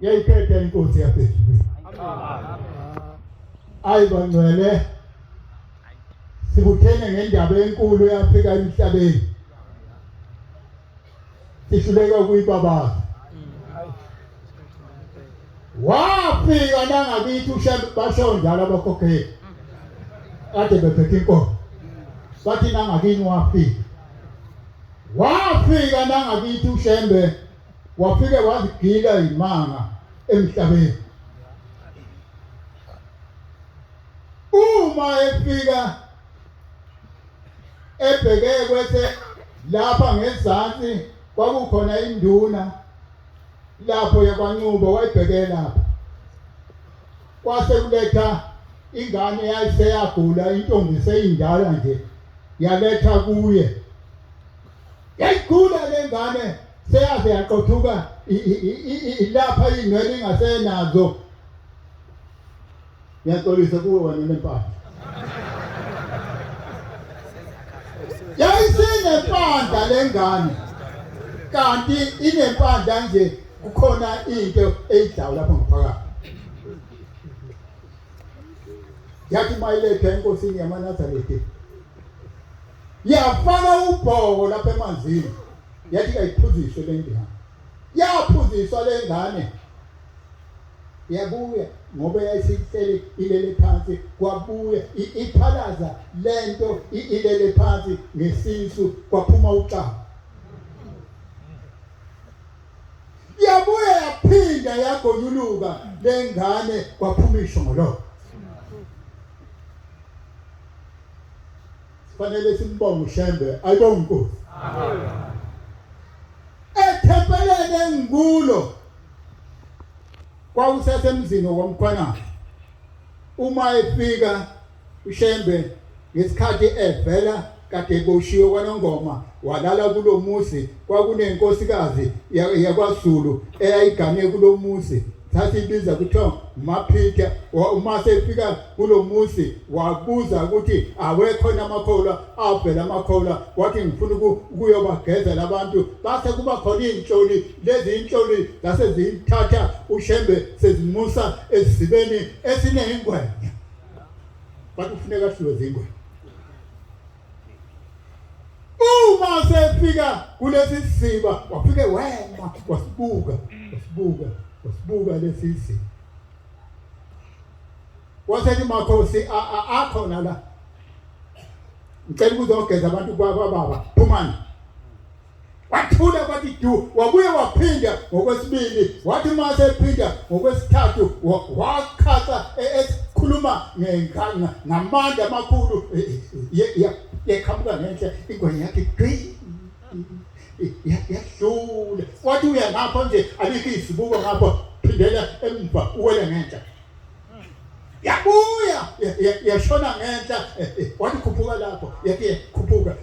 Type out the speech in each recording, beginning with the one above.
yayiphephe inkosi yaseZulwini ayi bangcwele sikuthene ngendaba enkulu eyafika emhlabeni sihluleka ukuyibabaza wafika nangakithi basho njalo abakhokheli kade bephethe inkomo bathi nangakini wafika wafika nangakithi ushembe wafike wazigila imanga emhlabeni uma efika ebheke kwethe lapha ngezansi kwakukhona induna lapho yakwanqubo wayibheke lapha kwase kuletha ingane yayiseyagula intombi seyindala nje yaletha kuye yayigula le ngane seyaze yaqothuka ilapha iy'nwele ingasenazo ngiyaxolisa kuwe wena nempahla yayisinempandla lengane kanti inempandla nje kukhona into eyidlawu lapha ngaphakathi yathi mayiletha enkosini yamanazarete yafaka ubhoko lapha emanzini yathi kayiphuziswe le ngane yaphuziswa le ngane yabuya ngoba yayisihleli ilele phansi kwabuya iphalaza lento ilele phansi ngesisu kwaphuma uxaba yabuya yaphinda yagonyuluka lengane kwaphuma ishongololo fanele simbonge ushembe ayibonge inkosi amen ethempeleni engikulo Kwakusasemzini womkhwana uma efika uShembe ngesikhathi evela kade eboshiwe kwanongoma walala kulomuzi kwakunenkosikazi yakwaZulu eyayigane kulomuzi sasibiza kuthiwa maphitha uma sefika kulo muzi wabuza ukuthi awekhona amakholwa avela amakholwa wathi ngifuna ukuyobagezela abantu base kuba khona iy'nhloli lezi inhloli zase ziyithatha ushembe sezimusa esizibeni esineyingwenya bathi kufuneka siwe zingwenya uma sefika kulesi siziba wafike wema wasibuka wasibuka wasibuka lesi siziba wasethi makhosi akhona la ngicela ukuzogeza abantu kwababa phumani wathula kwathi du wabuye waphinda ngokwesibili wathi uma sephinda ngokwesithathu waqhaqa e-, ekhuluma ngamandla amakhulu e, e, yeqhamuka ngenhla ingwenya yakhe gqi yahlula wathi uya ngapho nje alikho izibuko ngapho phindela emva uwele ngenhla yabuya yashona ngenhla eh, eh, wathi khuphuka lapho yathi eh, khuphuka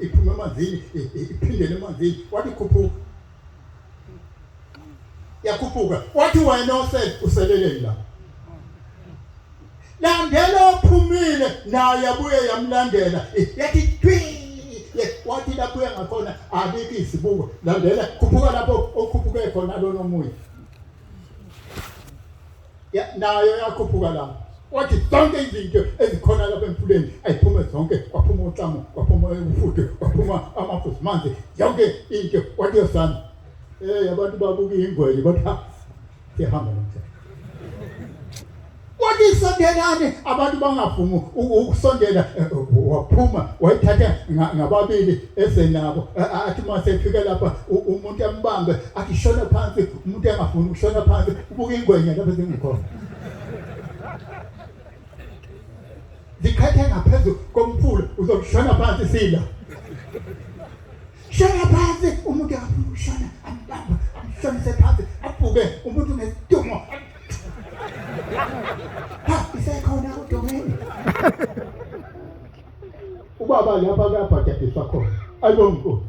iphuma emanzini iphindele emanzini wathi khuphuka yakhuphuka wathi wena osele useleleni lapho landela ophumile naye yabuye yamlandela yathi thwi wathi lapho uya ngakhona abikho izibuko landela khuphuka lapho okhuphuke khona lona omunye ya nayo yakhuphuka la wathi zonke izinto ezikhona lapha emfuleni ayiphume zonke kwaphuma uhlamo kwaphuma ufudu kwaphuma amafusi manzi yonke into wathi yosana eh abantu babuka ingwele bathi ha sihamba nomthetho Wathi sondelane abantu bangavumi ukusondela eh, eh, waphuma wayithatha ngababili esenabo athi masefika lapha umuntu ambambe athi shona phansi umuntu engafuni ukushona phansi ubuka ingwenya lapha zingikhona zikhathe ngaphezulu komfula uzokushona phansi sila Shona phansi umuntu akafuna ukushona ambamba amshonise phansi abhuke umuntu ngesidungo. Ha isekhona udomeni. Ubaba lapha kuyabhadadiswa khona. Ayibo mkhulu.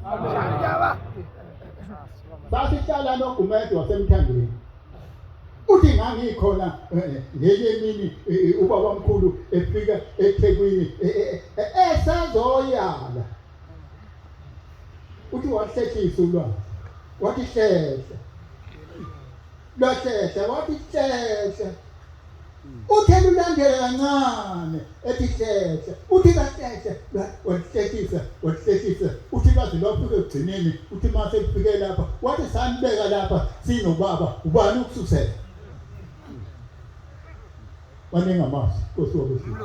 Sasihlala noGumede wasemthandweni. Uthi ngangikhona eh, ngenye imini eh, eh, ubaba omkhulu efika eThekwini esazoyala uthi wahlehlisa ulwazi wathi hlehla lwahlehla wathi hlehla uthe lulandela kancane ethi hlehla uthi kahlehla wahlehlisa wahlehlisa uthi baze lwafike ekugcineni uthi mase kufike lapha wathi sanibeka lapha sinobaba ubani ukususela wanengamazi nkosi wakusiza